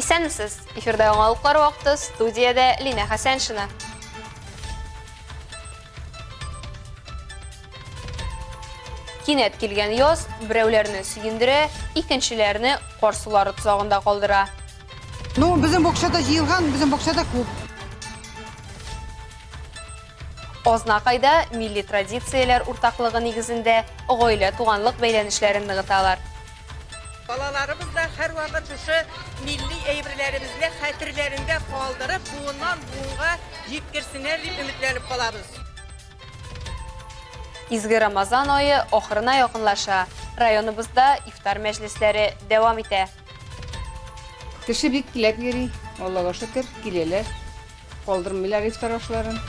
Исәнмесез! Эфирда яңалыклар вакыты, студиядә Лина Хәсәншина. Кинәт килгән яз берәүләрне сөендерә, икенчеләрне кар сулары тозагында калдыра. Ну, безнең бакчада җыелган, безнең бакчада күп. Азнакайда милли традицияләр уртаклыгы нигезендә гаилә-туганлык бәйләнешләрен ныгыталар. Балаларыбыз да һәрвакыт шушы милли әйберләребезне хәтерләрендә калдырып, буыннан-буынга җиткерсеннәр дип өметләнеп калабыз. Изге Рамазан ае ахырына якынлаша. Районыбызда ифтар мәҗлесләре дәвам итә. Кеше бик теләп йөри, Аллага шөкер, киләләр. Калдырмыйлар ифтар ашларын.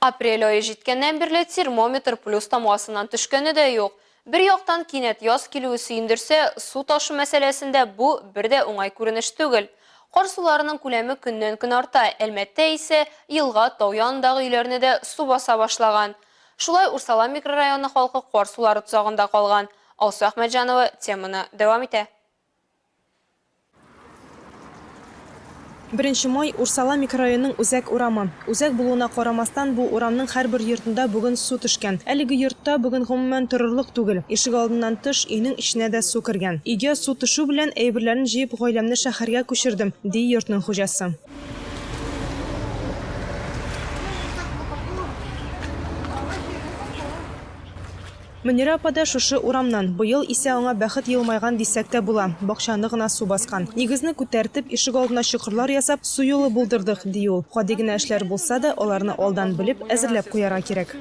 Апрель ае җиткәннән бирле термометр плюс тамгасыннан төшкәне дә юк. Бер яктан, кинәт яз килүе сөендерсә, су ташу мәсьәләсендә бу бер дә уңай күренеш түгел. Кар суларының күләме көннән-көн арта, Әлмәттә исә елга, тау янындагы өйләрне дә су баса башлаган. Шулай Урсала микрорайоны халкы кар сулары тозагында калган. Алсу Әхмәтҗанова теманы дәвам итә. Беренче май, Урсала микрорайонының үзәк урамы. Үзәк булуына карамастан, бу урамның һәрбер йортында бүген су төшкән. Әлеге йортта бүген гомумән торырлык түгел. Ишегалдыннан тыш, өйнең эченә дә су кергән. Өйгә су төшү белән, әйберләрен җыеп, гаиләмне шәһәргә күчердем, ди йортның хуҗасы. Мөнирә апа да шушы урамнан. Быел исә аңа бәхет елмайган дисәк тә була, бакчаны гына су баскан. Нигезне күтәртеп, ишегалдына чокырлар ясап, су юлы булдырдык, ди ул. Гади генә эшләр булса да, аларны алдан белеп, әзерләп куярга кирәк.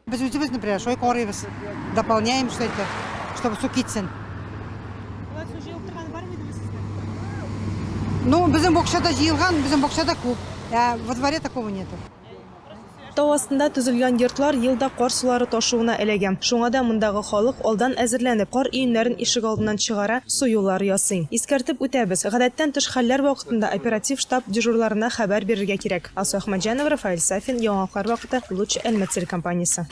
Без үзебез, например, шулай карыйбыз, дополняем что-то, чтобы су китсен. Болай су җыелып торганы бармы иде сездә? Ну, безнең бакчада җыелган, безнең бакчада күп, ә во дворе такого нету. Тау астында төзелгән йортлар ел да кар сулары ташуына эләгә. Шуңа да мондагы халык алдан әзерләнеп, кар өемнәрен ишегалдыннан чыгара, су юллары ясый. Искәртеп үтәбез, гадәттән тыш хәлләр вакытында оператив штаб дежурларына хәбәр бирергә кирәк. Алсу Әхмәтҗанова, Рафаэль Сафин, Яңалыклар вакыты, Луч Әлмәт телекомпаниясе.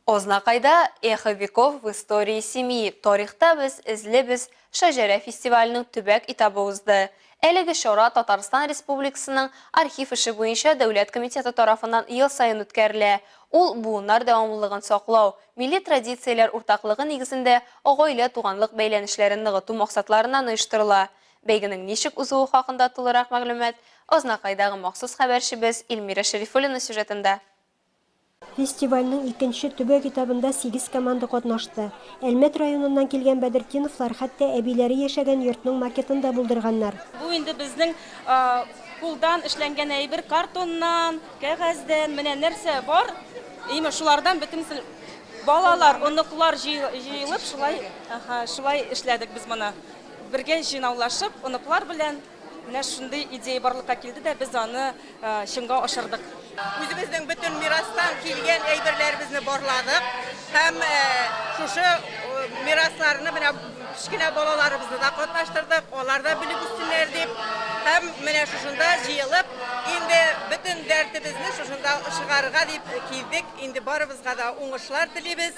Азнакайда Эхо веков в истории семьи, Тарихта без, эзлибез, шәҗәрә фестиваленең төбәк этабы узды. Әлеге чара Татарстан Республикасының Архив эше буенча дәүләт комитеты тарафыннан ел саен үткәрелә. Ул, буыннар дәвамлылыгын саклау, милли традицияләр уртаклыгы нигезендә гаилә-туганлык бәйләнешләрен ныгыту максатларыннан оештырыла. Бәйгенең ничек узуы хакында тулырак мәгълүмат Азнакайдагы махсус хәбәрчебез Ильмира Шәрифуллина сюжетында. Фестивальнең икенче төбәк этабында сигез команда катнашты. Әлмәт районыннан килгән Бәдертдиновлар хәтта әбиләре яшәгән йортның макетын да булдырганнар. Бу инде безнең кулдан эшләнгән әйбер, картоннан, кәгазьдән, менә нәрсә бар, имеш шулардан бөтенесен балалар, оныклар җыелып шулай, аһа, шулай эшләдек без моны. Бергә җыйнаулашып, оныклар белән. Менә шундый идея барлыкка килде дә без аны чынга ашырдык. Үзебезнең бөтен мирастан килгән әйберләребезне барладык һәм шушы мирасларны менә кечкенә балаларыбызны да катнаштырдык, алар да белеп үссеннәр дип. Һәм менә шушында җыелып, инде бөтен дәртебезне шушында чыгарырга дип килдек. Инде барыбызга да уңышлар телибез.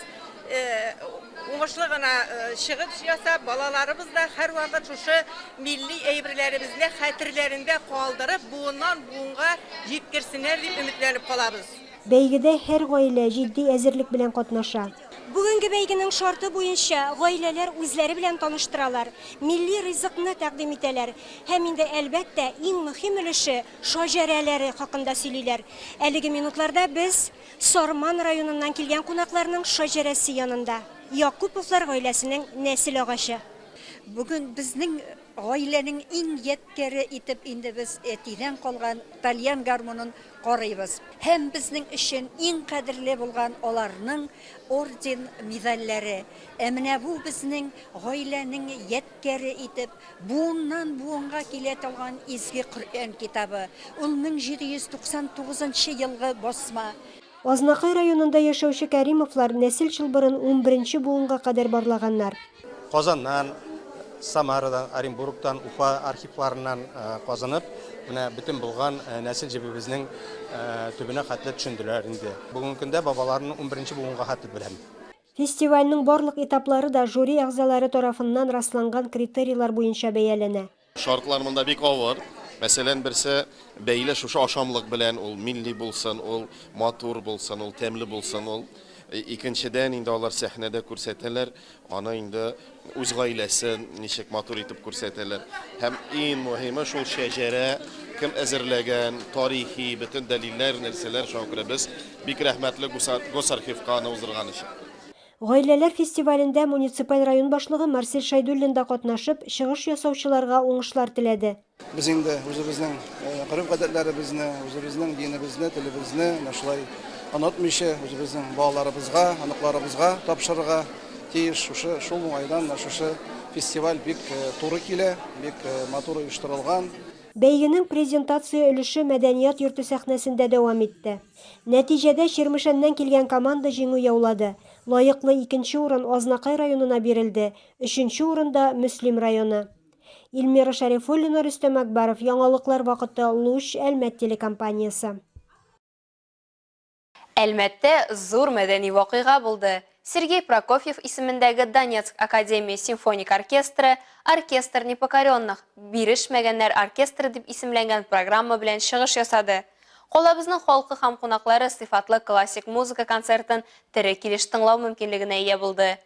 Уңышлы гына чыгыш ясап, балаларыбыз да һәрвакыт шушы милли әйберләребезне хәтерләрендә калдырып, буыннан буынга җиткерсеннәр дип өметләнеп калабыз. Бәйгедә һәр гаилә җитди әзерлек белән катнаша. Бүгенге бәйгенең шарты буенча гаиләләр үзләре белән таныштыралар, милли ризыкны тәкъдим итәләр һәм инде, әлбәттә, иң мөһим өлеше, шаҗәрәләре хакында сөйлиләр. Әлеге минутларда без Сарман районыннан килгән кунакларның шаҗәрәсе янында, Якуповлар гаиләсенең нәсел агачы. Бүген безнең гаиләнең иң ядкяре итеп инде без әтидән калган тальян гармунын карыйбыз һәм безнең өчен иң кадерле булган аларның орден-медальләре. Ә менә бу безнең гаиләнең ядкяре итеп Буыннан-буынга килә торган Изге Коръән китабы. Ул 1799 нчы елгы басма. Азнакай районында яшәүче Кәримовлар нәсел чылбырын унберенче буынга кадәр барлаганнар. Казаннан, Самарадан, Оренбургтан, Уфа архивларыннан казынып, менә бөтен булган нәсел җебебезнең төбенә хәтле төшенделәр инде. Бүгенге көндә бабаларымны унберенче буынга хәтле беләм. Фестивальнең барлык этаплары да жюри әгъзалары тарафыннан расланган критерийлар буенча бәяләнә. Шартлар монда бик авыр. Мәсәлән, берсе бәйле шушы ашамлык белән, ул милли булсын, ул матур булсын, ул тәмле булсын, ул. Икенчедән, инде алар сәхнәдә күрсәтәләр, аны инде Үз гаиләсен ничек матур итеп күрсәтәләр. Һәм иң мөһиме шул шәҗәрә кем әзерләгән, тарихи бөтен дәлилләр, нәрсәләр, шуңа күрә без бик рәхмәтле Госархивка аны уздырган өчен. Гаиләләр фестивалендә муниципаль район башлыгы Марсель Шәйдуллин да катнашып, чыгыш ясаучыларга уңышлар теләде. Без инде үзебезнең гореф-гадәтләребезне, үзебезнең динебезне, телебезне менә шулай онытмыйча, үзебезнең балаларыбызга, оныкларыбызга тапшырырга тиеш. Шушы шул уңайдан менә шушы фестиваль бик туры килә, бик матур оештырылган. Бәйгенең презентация өлеше мәдәният йорты сәхнәсендә дәвам итте. Нәтиҗәдә Чирмешәннән килгән команда җиңү яулады. Лаеклы икенче урын Азнакай районына бирелде, өченче урында, Мөслим районы. Ильмира Шәрифуллина, Рөстәм Әкбаров, яңалыклар вакыты, Луч, Әлмәт телекомпаниясе. Әлмәттә зур мәдәни вакыйга булды, Сергей Прокофьев исемендәге Донецк академия симфоник оркестры Оркестр непокоренных, Бирешмәгәннәр оркестры дип исемләнгән программа белән чыгыш ясады. Калабызның халкы һәм кунаклары сыйфатлы классик музыка концертын тере килеш тыңлау мөмкинлегенә ия булды.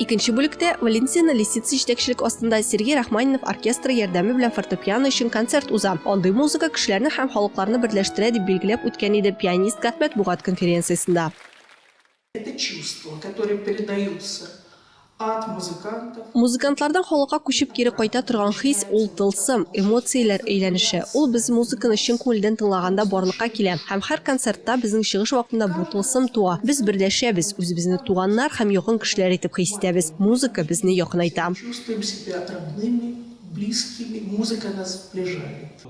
Икенче бүлектә Валентина Лисица җитәкчелек астында Сергей Рахманинов оркестры ярдәме белән фортепиано өчен концерт уза. Андый музыка кешеләрне һәм халыкларны берләштерә, дип билгеләп үткән иде пианистка матбугат конференциясендә. Это чувства, которые передаются от музыкантов. Музыкантлардан халыкка күчеп кире кайта торган хис, ул тылсым, эмоцияләр әйләнеше. Ул без музыканы чын күңелдән тыңлаганда барлыкка килә. Һәм һәр концертта, безнең чыгыш вакытында бу тылсым туа. Без берләшәбез, үзебезне туганнар һәм якын кешеләр итеп хис итәбез. Музыка безне якынайта. Чувствуем себя родными, близкими, музыка нас сближает.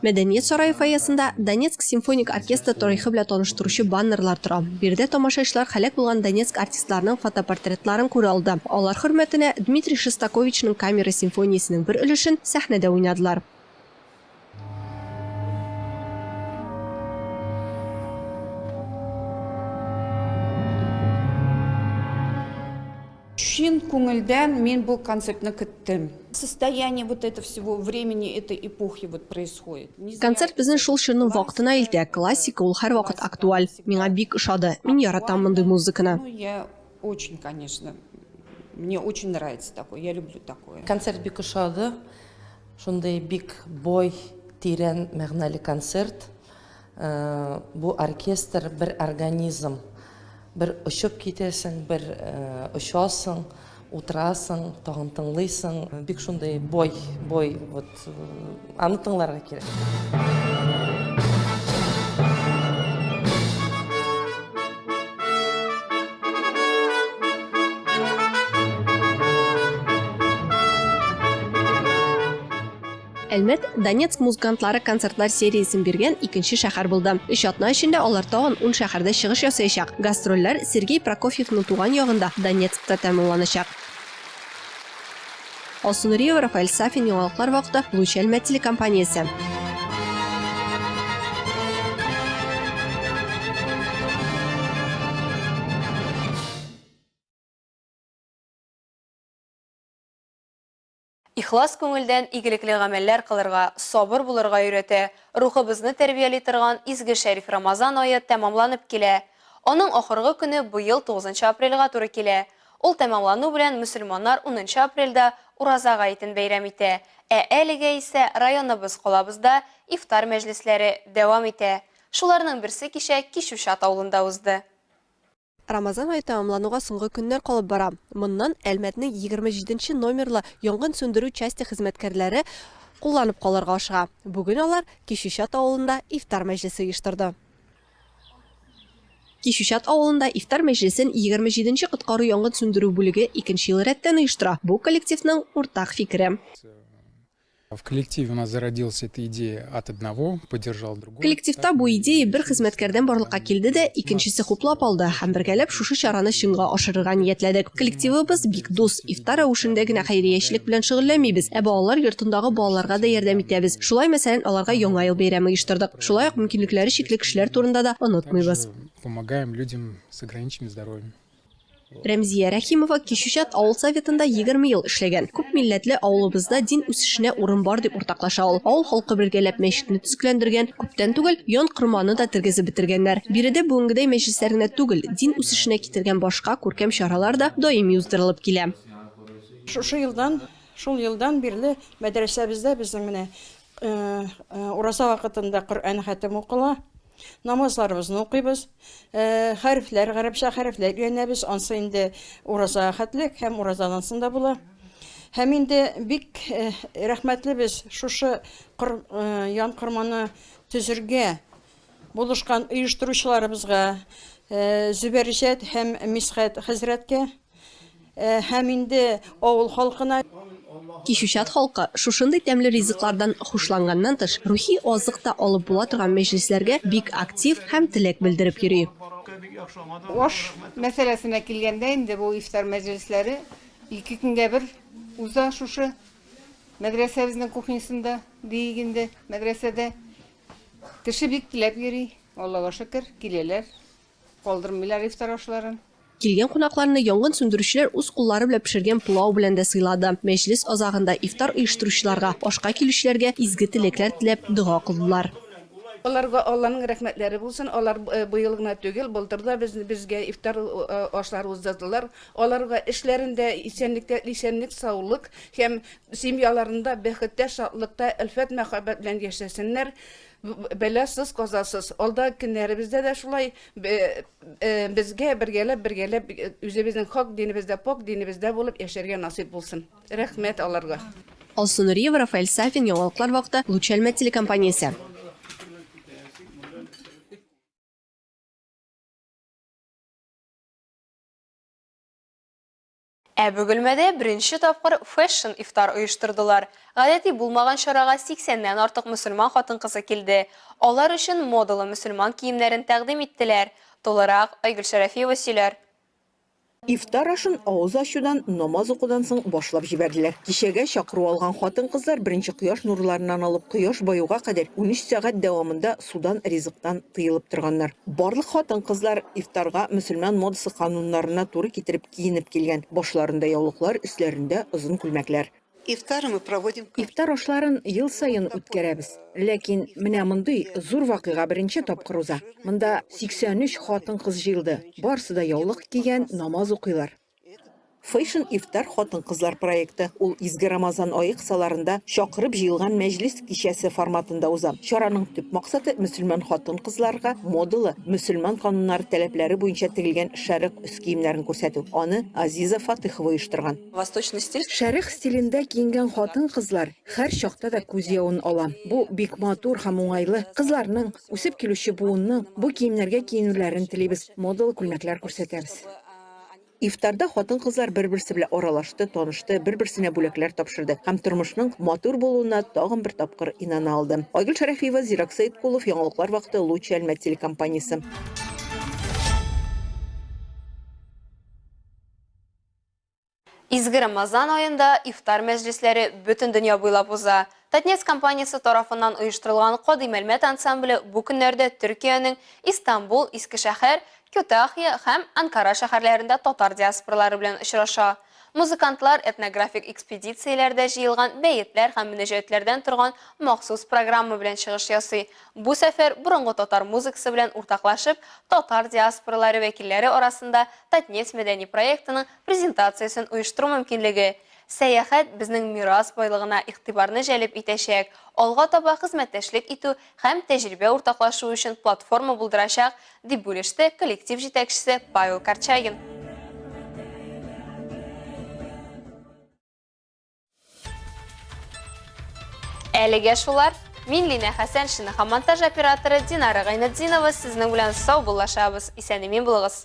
Мәдәният сарае фойесында Донецк симфоник оркестры тарихы белән таныштыручы баннерлар тора. Биредә тамашачылар һәлак булган Донецк артистларының фотопортретларын күрә алды. Алар хөрмәтенә Дмитрий Шостаковичның камера симфониясенең бер өлешен сәхнәдә уйнадылар. Чын күңелдән мин бу концертны көттем. Состояние вот это всего времени этой эпохи вот происходит. Концерт безне шул чорның вакытына илтә, классика ул һәрвакыт актуаль. Миңа бик ошады, мин яратам мондый музыканы. Ну я очень, конечно, мне очень нравится такое, я люблю такое. Концерт бик ошады, шундый бик бой, тирән мәгънәле концерт. Бу оркестр бер организм. Бер очып китәсең, бер очасың, утырасың, тагын тыңлыйсың. Бик шундый бай, бай, вот аны тыңларга кирәк. Әлмәт, Донецк музыкантлары концертлар сериясен биргән икенче шәһәр булды. Өч атна эчендә алар тагын ун шәһәрдә чыгыш ясаячак. Гастрольләр Сергей Прокофьевның туган ягында, Донецкта тәмамланачак. Алсу Нуриева, Рафаэль Сафин, Яңалыклар вакыты, Луч Әлмәт телекомпаниясе. Ихлас күңелдән игелекле гамәлләр кылырга, сабыр булырга өйрәтә, рухыбызны тәрбияли торган изге шәриф Рамазан ае тәмамланып килә. Аның ахыргы көне быел тугызынчы апрельгә туры килә. Ул тәмамлану белән мөселманнар унынчы апрельдә Ураза гаетен бәйрәм итә, ә әлегә исә районыбыз, калабызда ифтар мәҗлесләре дәвам итә. Шуларның берсе кичә Кичүчат авылында узды. Рамазан ае тәмамлануга соңгы көннәр калып бара. Моннан Әлмәтнең 27 нче номерлы янгын сүндерү часте хезмәткәрләре кулланып калырга ашыга. Бүген алар Кичүчат авылында ифтар мәҗлесе оештырды. Кичүчат авылында ифтар мәҗлесен 27 нче коткару-янгын сүндерү бүлеге икенче ел рәттән оештыра. Бу коллективның уртак фикере. Коллективта бу идея бер хезмәткәрдән барлыкка килде дә, икенчесе хуплап алды һәм бергәләп шушы чараны чынга ашырырга ниятләдек. Коллективыбыз бик дус, ифтар рәвешендә генә хәйриячелек белән шөгыльләнмибез, ә балалар йортындагы балаларга да ярдәм итәбез. Шулай, мәсәлән, аларга Яңа ел бәйрәме оештырдык. Шулай ук мөмкинлекләре чикле кешеләр турында да онытмыйбыз. Рәмзия Рәхимова Кичүчат авыл советында 20 ел эшләгән. Күп милләтле авылыбызда дин үсешенә урын бар, дип уртаклаша ул. Авыл халкы бергәләп мәчетне төзекләндергән, күптән түгел Ян Корманы да тергезеп бетергәннәр. Биредә бүгенгедәй мәҗлесләр генә түгел, дин үсешенә китергән башка күркәм чаралар да даими уздырылып килә. Шушы елдан, шул елдан бирле мәдрәсәбездә безнең менә Ураза вакытында Коръән хәтем укыла. Намазларыбызны укыйбыз. Хәрефләр, гарәпчә хәрефләр өйрәнәбез. Ансы инде уразага хәтлек һәм уразадан соң да була. Һәм инде бик рәхмәтле без шушы ян корманы төзергә Булышкан оештыручыларыбызга, Зөбәрҗәт һәм Мисхәт хәзрәткә һәм инде авыл халкына. Кичүчат халкы шушындый тәмле ризыклардан хушланганнан тыш, рухи азык та алып була торган мәҗлесләргә бик актив һәм теләк белдереп йөри. Аш мәсьәләсенә килгәндә инде бу ифтар мәҗлесләре ике көнгә бер уза шушы мәдрәсәбезнең кухнясында, диик инде, мәдрәсәдә. Кеше бик теләп йөри, Аллага шөкер, киләләр, калдырмыйлар ифтар ашларын. Килгән кунакларны янгын сүндерүчеләр үз куллары белән пешергән пылау белән дә сыйлады. Мәҗлес азагында ифтар оештыручыларга, ашка килүчеләргә изге теләкләр теләп, дога кылдылар. Аларга Алланың рәхмәтләре булсын, алар быел гына түгел, былтыр да безгә ифтар ашлары уздырдылар. Аларга эшләрендә исәнлектә исәнлек саулык һәм семьяларында бәхеттә шатлыкта әлфәт мәхәббәт белән яшәсеннәр бәла сыз казасыз алда кеннәребездә дә шулай безгә бергәләп бергәләп үзебезнең хак динебездә пакь динебездә булып яшәргә насыйп булсын рәхмәт аларга. Алсу Нуриева, Рафаэль Сафин, яңалыклар вакыты, Луч Әлмәт телекомпаниясе. Ә Бөгелмәдә беренче тапкыр Фэшн ифтар оештырдылар. Гадәти булмаган чарага 80 ннән артык мөселман хатын-кызы килде. Алар өчен модалы мөселман киемнәрен тәкъдим иттеләр. Тулырак, Айгөл Шәрәфиева сөйләр. Ифтар ашын авыз ачудан, намаз укудан соң башлап җибәрделәр. Кичәгә чакыру алган хатын-кызлар беренче кояш нурларыннан алып кояш баюга кадәр унөч сәгать дәвамында судан, ризыктан тыелып торганнар. Барлык хатын-кызлар ифтарга мөселман модасы кануннарына туры китереп киенеп килгән, башларында яулыклар, өсләрендә озын күлмәкләр. Ифтар ашларын ел саен үткәрәбез. Ләкин менә мондый зур вакыйга беренче тапкыр уза. Монда 83 хатын-кыз җыелды, барысы да яулык кигән, намаз укыйлар. Фэшн ифтар хатын-кызлар проекты. Ул изге Рамазан ае кысаларында чакырып җыелган мәҗлес кичәсе форматында уза. Чараның төп максаты, мөселман хатын-кызларга модалы, мөселман кануннары таләпләре буенча тегелгән шәрык өс киемнәрен күрсәтү. Аны Азиза Фатыйхова оештырган. Восточный стиль. Шәрык стилендә киенгән хатын-кызлар хәр чакта да күз явын ала. Бу, бик матур һәм уңайлы. Кызларның, үсеп килүче буынның бу киемнәргә киенүләрен телибез, модалы күлмәкләр күрсәтәбез. Ифтарда хатын-кызлар бер-берсе белән аралашты, танышты, бер-берсенә бүләкләр тапшырды һәм тормышның матур булуына тагын бер тапкыр инана алды. Айгөл Шәрәфиева, Зирак Сәеткулов, яңалыклар вакыты, Лучи Әлмәт телекомпаниясе. Изге Рамазан аенда ифтар мәҗлесләре бөтен дөнья буйлап уза. Татнефть компаниясе тарафыннан оештырылган Кадый Мәлмәт ансамбле бу көннәрдә Төркиянең Истанбул, Искешәһәр, Кютахья һәм Анкара шәһәрләрендә татар диаспоралары белән очраша. Музыкантлар этнографик экспедицияләрдә җыелган бәетләр һәм мөнәҗәятләрдән торган махсус программа белән чыгыш ясый. Бу сәфәр борынгы татар музыкасы белән уртаклашып, татар диаспоралары вәкилләре арасында Татнефть мәдәни проектының презентациясен оештыру мөмкинлеге Сәяхәт безнең мирас байлыгына игътибарны җәлеп итәчәк, алга таба хезмәттәшлек итү һәм тәҗрибә уртаклашу өчен платформа булдырачак, дип бүлеште коллектив җитәкчесе Павел Корчагин. Әлегә шулар. Мин Линә Хәсәншина һәм монтаж операторы Динара Гайнетдинова сезнең белән саубуллашабыз. Исән-имин булыгыз!